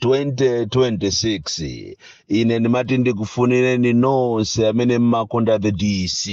2026 ine ndimati ndikufunireni nonse amene mmakonda the dc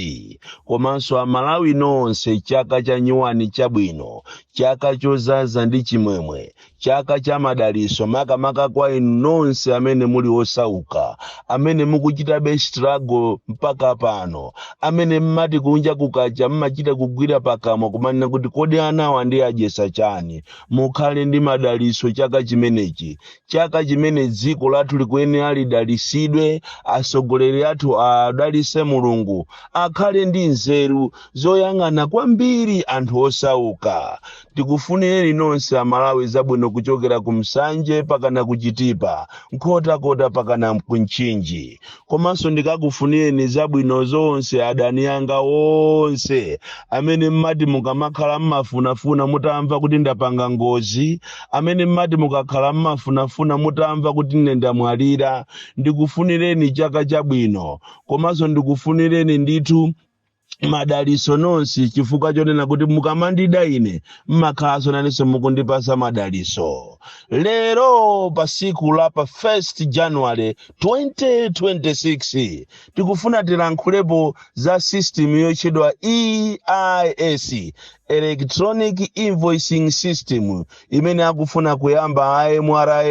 komanso amalawi nonse chaka cha nyuwani chabwino chaka chozaza ndi chimwemwe chaka cha madaliso makamaka kwa inu nonse amene muli osauka amene mukuchitabe struggle mpaka pano amene mmati kunja kukacha mmachita kugwira pakamwa kumanena kuti kodi anawa ndiadyesa chani mukhale ndi madaliso chaka chimenechi chaka chimene dziko lathu likuyenera lidalisidwe atsogoleri athu awadalise mulungu akhale ndi nzeru zoyang'ana kwambiri anthu osauka tikufunireni nonse amalawi zabwino kuchokera ku nsanje pakana kuchitipa nkhotakota pakana kumchinji komanso ndikakufunireni zabwino zonse adani anga onse amene mmati mukamakhala mmafunafuna mutamva kuti ndapanga ngozi amene mmati mukakhala mmafunafuna mutamva kuti ine ndamwalira ndikufunireni chaka chabwino komanso ndikufunireni ndithu madaliso nonse chifukwa chonena kuti mukamandida ine mmakhalanso nanenso mukundipasa madaliso lero pa siku la pa 1 january 2026 tikufuna tilankhulepo za system yotchedwa eis electronic invoicing system imene akufuna kuyamba a mra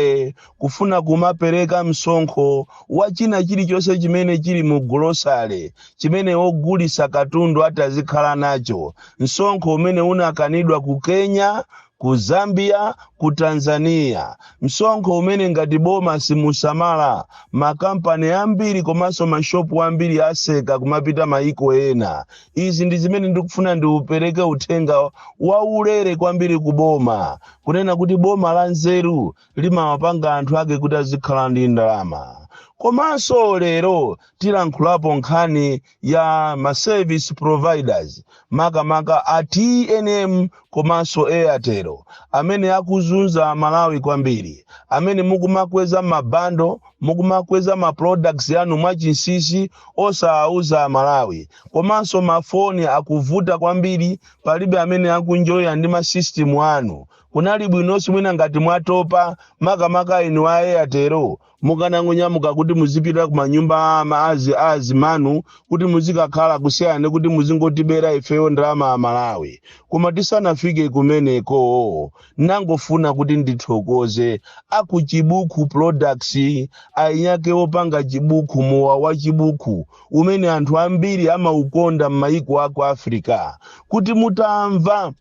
kufuna kumapereka msonkho wa china chilichonse chimene chili mu golosale chimene ogulisa katundu atazikhala nacho msonkho umene unakanidwa ku kenya ku zambia ku tanzania msonkho umene ngati boma simusamala makampani ambiri komanso mashopu ambiri aseka kumapita maiko ena izi ndi zimene ndikufuna ndipereke uthenga waulere kwambiri ku boma kunena kuti boma la nzeru limawapanga anthu ake kuti azikhala ndi ndalama komanso lero tilankhulapo nkhani ya ma service providers makamaka a tnm komanso airtel amene akuzunza amalawi kwambiri amene mukumakweza mabando mukumakweza ma products anu mwachinsisi osawauza amalawi komanso mafoni akuvuta kwambiri palibe amene akunjoya ndi ma system anu Kunali bwinonso mwina ngati mwatopa, makamaka inu a Airtel, mukanangonyamuka kuti muzipita ku manyumba a ama- azi- a azimanu kuti muzikakhala kusiyana ndi kuti muzingotibera ifeyo ndalama a Malawi. Koma tisanafike kumeneko, nangofuna kuti ndithokoze a ku Chibuku Products, eniake opanga chibuku, mowa wa chibuku umene anthu ambiri amaukonda m'mayiko a ku Africa, kuti mutamva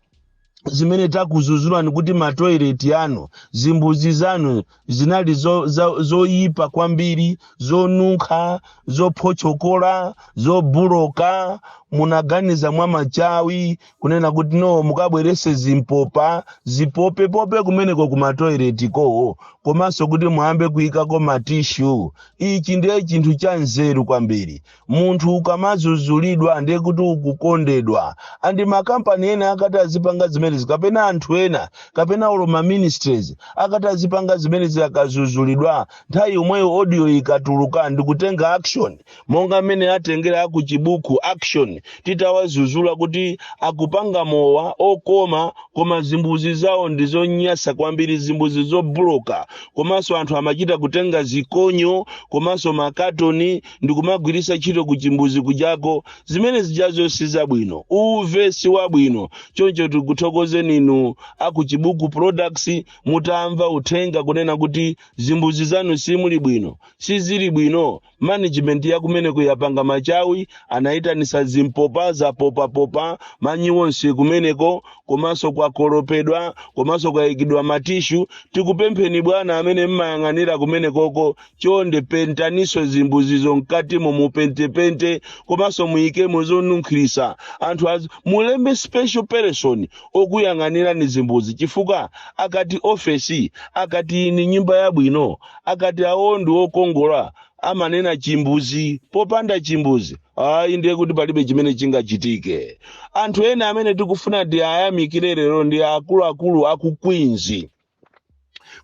zimene takuzuzulani kuti matoileti anu zimbuzi zanu zinali zo- za- zoyipa kwambiri zonunkha zophochokola zobuloka munaganiza mwa machawi kunena kuti no mukabwerese zimpopa zipopepope kumeneko ku matoileti kowo komanso kuti muyambe kuyikako matishu ichi ndiye chinthu cha nzeru kwambiri Munthu ukamazuzulidwa ndiye kuti ukukondedwa and makampani ena akati azipanga zimenezi kapena anthu ena kapena olo ma ministries akati azipanga zimenezi akazuzulidwa nthawi yomweyo audio ikatuluka ndikutenga action monga mmene atengera aku chibuku action titawazuzula kuti akupanga mowa okoma koma zimbuzi zawo ndizonyasa kwambiri zimbuzi zobuloka komanso anthu amachita kutenga zikonyo komanso makatoni ndikumagwirisa ntchito kuchimbuzi kujako zimene zijazo si zabwino uve si wabwino choncho tikuthokozeni inu akuchibuku products mutamva uthenga kunena kuti zimbuzi zanu simuli bwino sizili bwino management yakumeneko yapanga machawi anayitanisa zimpopa zapopapopa manyi onse kumeneko komanso kwakolopedwa komanso kwayikidwa matishu tikupempheni bwana amene mmayang'anira kumenekoko chonde pentaninso zimbuzizo mkatimo mupentepente komanso muyikemo zonunkhirisa anthu az mulembe special person okuyang'anira zimbuzi chifukwa akati ofesi akati ndi nyumba yabwino akati awo ndi okongola amanena chimbuzi popanda chimbuzi ayi ndiye kuti palibe chimene chingachitike anthu ena amene tikufuna tiwayamikire lero ndi akuluakulu aku queens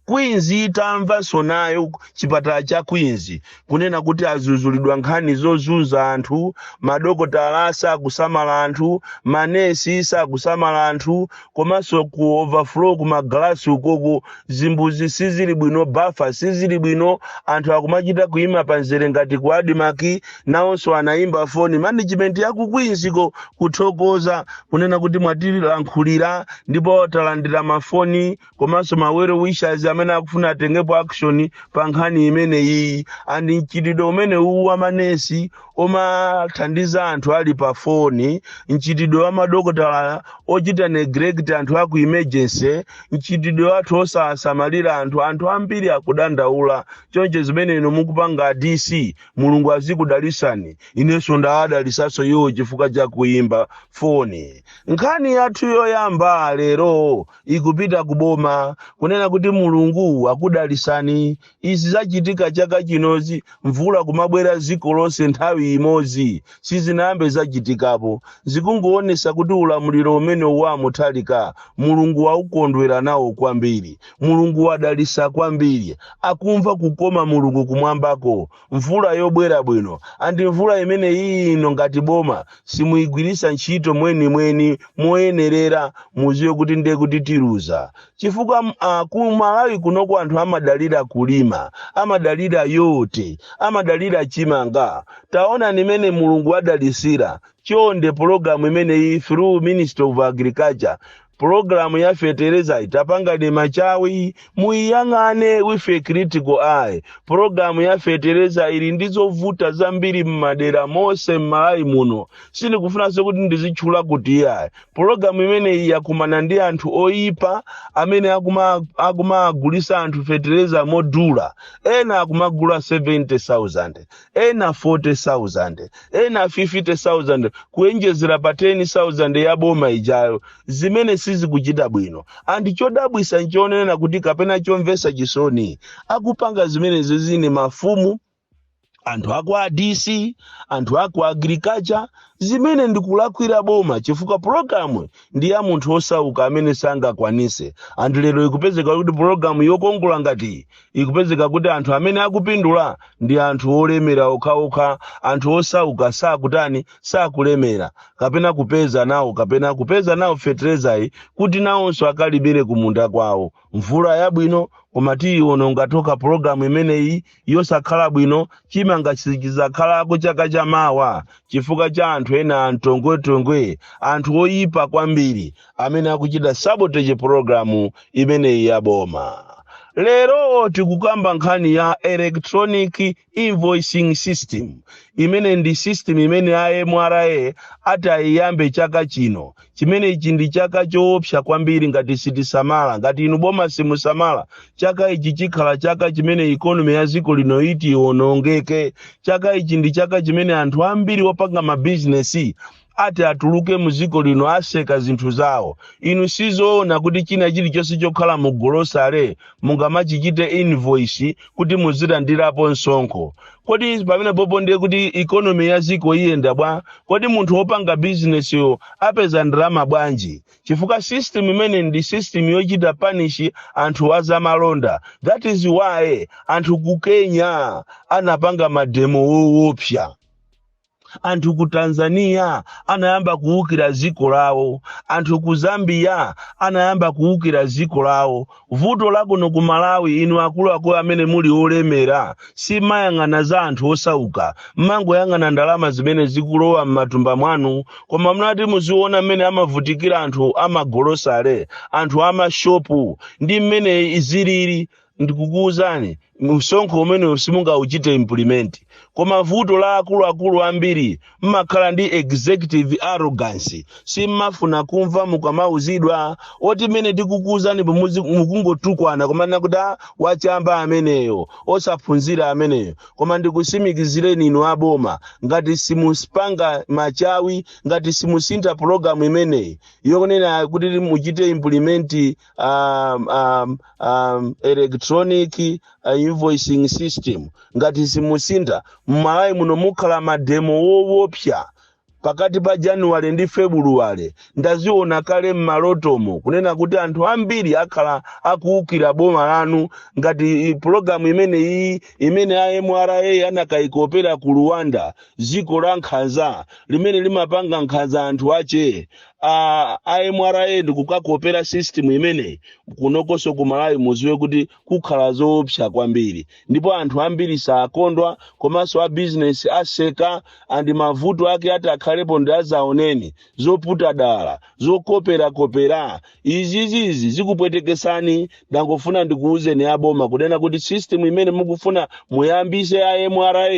Queens itamvanso nayo chipatala cha Queens kunena kuti azuzulidwa nkhani zozunza anthu, madokotala sakusamala anthu, manesi sakusamala anthu komanso ku overflow ku magalasi ukoko zimbuzi sizili bwino, bafa sizili bwino, anthu akumachita kuima pa mzere ngati ku Admarc nawonso anayimba foni management ya ku Queens ko kuthokoza kunena kuti mwatilankhulira ndipo talandira mafoni komanso ma well wishers amene akufuna atengepo action pa nkhani imene iyi and mchitidwe umene uwu wa manesi omathandiza anthu ali pa foni mchitidwe wa madokotala ochita neglect anthu aku emergency mchitidwe wa anthu osawasamalira anthu anthu ambiri akudandaula choncho zimene inu mukupanga a dc Mulungu azikudalisani inenso ndawadalisanso iwo chifukwa cha kuimba foni nkhani yathu yoyamba lero ikupita ku boma kunena kuti mulungu akudalisani izi zachitika chaka chinozi mvula kumabwera ziko lonse nthawi imodzi sizinayambe zachitikapo zikungoonesa kuti ulamuliro umene wa mutalika mulungu wakukondwera nawo kwambiri Mulungu wadalisa kwambiri akumva kukoma Mulungu kumwambako mvula yobwera bwino and mvula imeneyi ino ngati boma simuigwirisa ntchito mwenimweni moyenerera muziwe kuti ndiye kuti tiluza chifukwa uh, ku Malawi kunoko anthu amadalira kulima amadalira yote amadalira chimanga taonani mmene Mulungu wadalisira chonde pologalamu imeneyi through Ministry of Agriculture Program ya fetereza itapangidwe machawi muiyang'ane with a critical eye. Program ya fetereza ili ndi zovuta zambiri mmadera mose mMalawi muno sindikufunanso kuti ndizitchula kuti iyayi. Program imeneyi yakumana ndi anthu oyipa amene akuma- akumagulisa anthu fetereza modula ena akumagula 70,000 ena 40,000 ena 50,000 kuenjezera pa 10,000 ya boma ijayo zimene sizikuchita bwino and chodabwisa nchonena kuti kapena chomvesa chisoni akupanga zimenezizi ndi mafumu anthu aku adc anthu aku agriculture zimene ndikulakwira boma chifukwa pulogalamu ndi ya munthu osauka amene sangakwanise and lero ikupezeka kuti pulogalamu yokongola ngati iyi ikupezeka kuti anthu amene akupindula ndi anthu olemera okhaokha anthu osauka sakutani sakulemera kapena kupeza nawo kapena kupeza nawo feterezayi kuti nawonso akalimire kumunda kwawo mvula yabwino koma tiyiwononga tokha pologalamu imeneyi yosakhala bwino chimanga sichizakhalako chaka chamawa chifukwa cha anthu ena antongwetongwe anthu oyipa kwambiri amene akuchita sabotage programu imeneyi ya boma lero tikukamba nkhani ya electronic invoicing system imene ndi system imene a mra atayiyambe chaka chino chimene ichi ndi chaka choopsa kwambiri ngati sitisamala ngati inu boma simusamala chaka ichi chikhala chaka chimene ikonomi ya dziko lino iti ionongeke chaka ichi ndi chaka chimene anthu ambiri opanga mabizinesi ati atuluke mu dziko lino aseka zinthu zawo inu sizoona kuti china chilichonse chokhala mu golosale mungamachichite invoice kuti muzilandirapo msonkho kodi pamenepopo ndiye kuti ikonomi ya dziko iyenda bwa kodi munthu wopanga bizinesiyo apeza ndalama bwanji chifukwa system imene ndi system yochita panishi anthu azamalonda that is why anthu ku kenya anapanga mademo wowopsa anthu ku tanzania anayamba kuwukira dziko lawo anthu ku zambia anayamba kuwukira dziko lawo vuto lakuno ku malawi inu akuluakulu amene muli olemera simayang'ana za anthu osauka mmangoyang'ana ndalama zimene zikulowa m'matumba mwanu koma mutati muziona mmene amavutikira anthu amagolosale anthu amashopu ndi mmene zilili ndikukuwuzani msonkho umenewu simungauchite implement koma vuto la akuluakulu ambiri mmakhala ndi executive arrogance simmafuna kumva mukamauzidwa oti mmene tikukuwuzanimu mukungotukwana komanso kuti "Ah, wachamba ameneyo osaphunzira ameneyo koma ndikutsimikizireni inu aboma ngati simupanga machawi ngati simusintha pulogalamu imeneyi yokunena kuti muchite implement um, um, um, electronic uh, invoicing system ngati simusintha mmalawi muno mukhala mademo wowopsa pakati pa januwale ndi febuluwale ndaziona kale mmalotomo kunena kuti anthu ambiri akhala akuwukira boma lanu ngati pulogalamu imene iyi imene a mra anakayikopera ku rwanda dziko la nkhanza limene limapanga nkhanza anthu ache a a mra ndikukakopera system imeneyi kunokonso ku malawi muziwe kuti kukhala zoopsa kwambiri ndipo anthu ambiri sakondwa komanso a bizinesi aseka andi mavuto ake atakhalepo ndi adzaoneni zoputa dala zokoperakopera izizizi zikupwetekesani ndangofuna ndikuwuzeni aboma kunena kuti system imene mukufuna muyambise a mra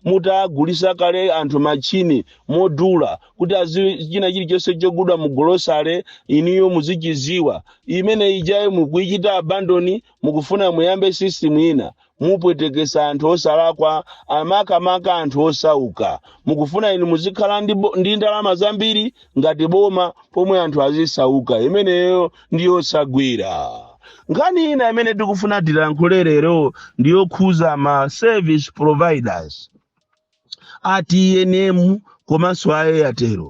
mutagulisa kale anthu machini modula kuti azi china chilichonse chogulidwa mu golosale inuyo muzichiziwa imene ijayo mukuichita abandon mukufuna muyambe system ina mupwetekesa anthu osalakwa makamaka anthu osauka mukufuna inu muzikhala ndi, bo- ndi ndalama zambiri ngati boma pomwe anthu azisauka imeneyo ndi yosagwira nkhani ina imene tikufuna tilankhule lero ndiyokhuza ma service providers a tnm komanso a airtel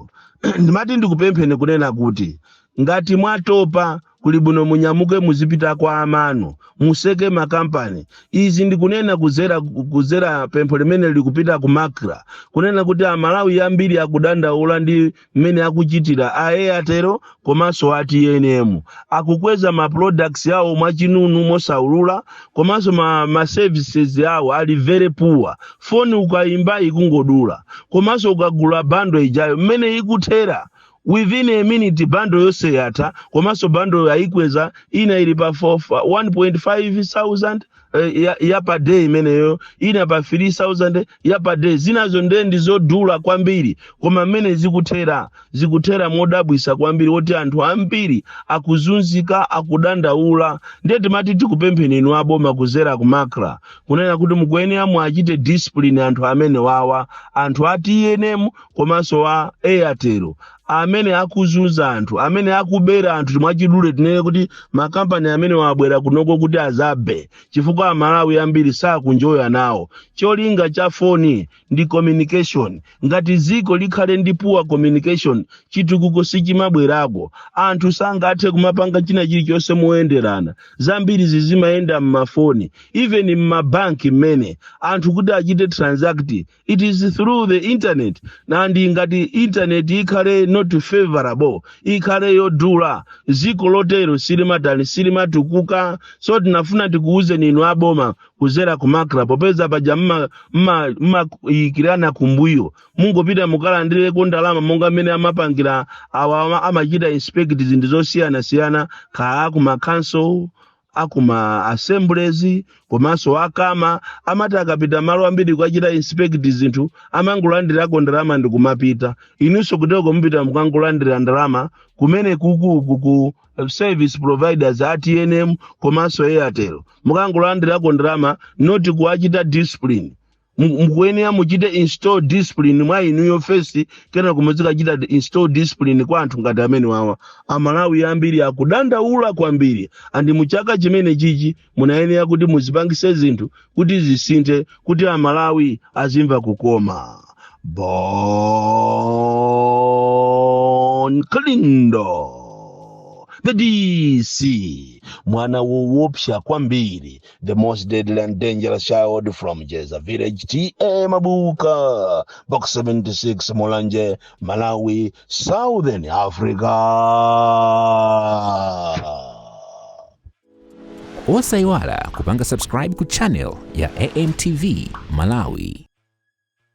ndimati ndikupempheni kunena kuti ngati mwatopa kuli bwino munyamuke muzipita kwa amanu mutseke makampani izi ndikunena kuzera kuzera pempho limene likupita ku macra kunena kuti amalawi ambiri akudandaula ndi mmene akuchitira a airtel komanso a tnm akukweza ma products awo mwachinunu mosaulula komanso ma, ma services awo ali very poor foni ukayimba ikungodula komanso ukagula bundle ijayo mmene ikuthera within a minute bundle yonse yatha komanso bundle ayikweza ina ili pa 1.5 thousand eh, ya, ya per day imeneyo ina pa 3000 ya per day zinazo nde ndi zodula kwambiri koma mmene zikuthera zikuthera modabwisa kwambiri woti anthu ambiri akuzunzika akudandaula ndiye timati tikupempheni inu aboma kuzera ku macra kunena kuti mukuyenera muachite discipline anthu amene wawa anthu a tnm komanso a airtel amene akuzunza anthu amene akubera anthu timwachidule tinene kuti makampani amene wa abwera kunoko kuti azabe chifukwa amalawi ambiri sakuenjoya nawo cholinga cha foni ndi communication ngati dziko likhale ndi poor communication chitukuko sichimabwerako anthu sangathe kumapanga china chilichonse moyenderana zambiri zizimayenda m'mafoni even m'mabanki momwe anthu kuti achite transact it is through the internet and ngati internet ikhale not favorable ikhale yodula ziko lotero silimatani silimatukuka so tinafuna tikuwuzeni inu aboma kuzera ku macra popeza paja mma- mma- mmayikirana kumbuyo mungopita mukalandireko ndalama monga mmene amapangira awa ama- amachita inspect zinthu zosiyanasiyana kaa kumakhonsolo akuma assemblies komanso akama amati akapita malo ambiri kukachita inspect zinthu amangolandirako ndalama ndi kumapita inunso kutereko mupita mukangolandira ndalama kumene kukuku ku service providers a tnm komanso airtel mukangolandirako ndalama not kuwachita discipline Mu- mukuyenera muchite install discipline mwa inuyo first kena kumuzikachita install discipline kwa anthu ngati amene wawa amalawi ambiri akudandaula kwambiri and muchaka chimene chichi munayenera kuti muzipangise zinthu kuti zisinthe kuti amalawi azimva kukoma bon kalindo the dc mwana wowopsa kwambiri the most deadly and dangerous child from Jeza Village, T.A. Mabuka, Box 76, Mulanje, Malawi, Southern Africa. osayiwala kupanga subscribe ku channel ya amtv malawi